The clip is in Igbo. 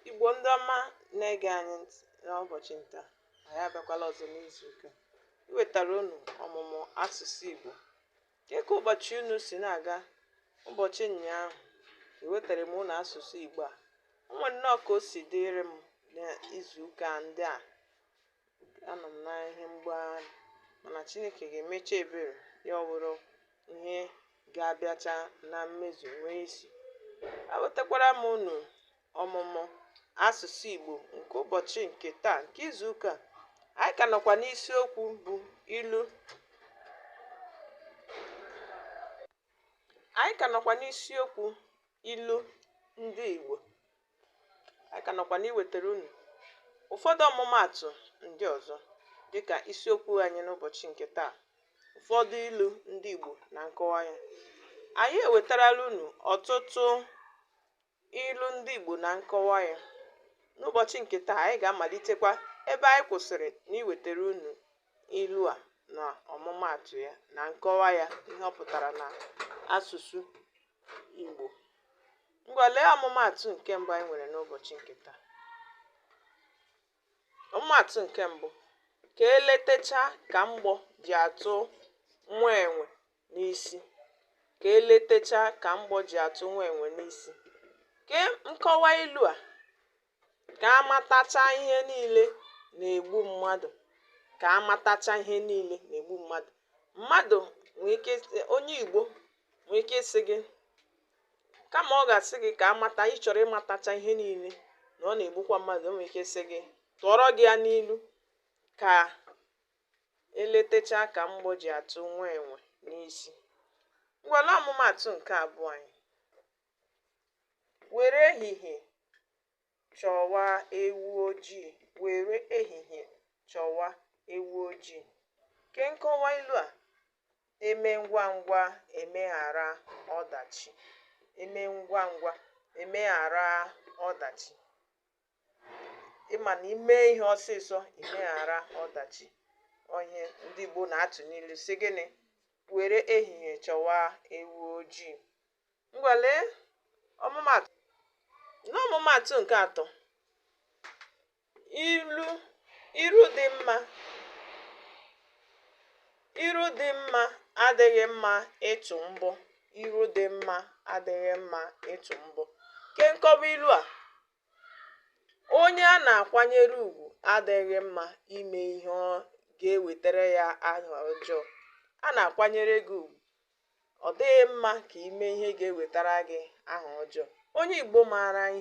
Igbo ndị ọma na-ege anyị ntị n'ụbọchị nke taa anyị abịakwala ọzọ n'izu ụka iwetara unu ọmụmụ asụsụ Igbo kee ka ụbọchị unu si na-aga ụbọchị ụnyaahụ ewetara m unu asụsụ Igbo a o nwere nnọọ ka o si dịrị m n'izu ụka ndị a anọ m na ihe mgbagharị mana chineke ga-emecha ebere ya ọ bụrụ ihe ga-abịacha na mmezu nwee isi ewetakwara m unu ọmụmụ asụsụ igbo nke ụbọchị nke taa nke izu ụka anyị ka nọkwa n'isiokwu bụ ilu anyị ka nọkwa n'isiokwu ilu ndị igbo anyị ka nọkwa n'iwetara unu ụfọdụ ọmụmaatụ ndị ọzọ dịka isiokwu anyị n'ụbọchị nke taa ụfọdụ ilu ndị Igbo na nkọwa ya anyị ewetarala unu ọtụtụ ilu ndị Igbo na nkọwa ya n'ụbọchị nke taa anyị ga-amalitekwa ebe anyị kwụsịrị n'iwetara unu ilu a na ọmụmaatụ ya na nkọwa ya ihe ọ pụtara na asụsụ Igbo Ngwa lee ọmụmaatụ nke mbụ anyị nwere n'ụbọchị nke taa. Ọmụmaatụ nke mbụ, ka eletecha ka mgbọ ji atụ nwa enwe n'isi. Ka eletecha ka mgbọ ji atụ nwa enwe n'isi. Kee nkọwa ilu a. ka a matacha ihe niile na-egbu mmadụ ka a matacha ihe niile na-egbu mmadụ mmadụ nwee ike onye igbo nwee ike ịsị gị kama ọ ga-asị gị ka amata ị chọrọ ịmatacha ihe niile na ọ na-egbukwa mmadụ o nwere ike sị gị tụọrọ gị ya n'ilu ka eletecha ka mgbọ ji atụ nwa enwe n'isi ngwa lee ọmụmaatụ nke abụọ anyị Were ehihie chọwa ewu ojii. Were ehihie chọwa ewu ojii. Kee nkọwa ilu a, eme ngwa ngwa emeghara ọdachi. Eme ngwa ngwa emeghara ọdachi. Ị ma na ime ihe ọsịsọ imeghara ọdachi. Ọ ihe ndị Igbo na-atụ n'ilu sị gịnị? Were ehihie chọwa ewu ojii. Ngwa lee ọmụmaatụ. N'ọmụmaatụ nke atọ, ilu iru dị mma iru dị mma adịghị mma ịtụ mbọ iru dị mma adịghị mma ịtụ mbọ. Kee nkọwa ilu a onye a na-akwanyere ugwu adịghị mma ime ihe ga-ewetara ya aha ọjọọ. A na-akwanyere gị ugwu Ọ dịghị mma ka i mee ihe ga-ewetara gị aha ọjọọ. Onye Igbo maara ihe.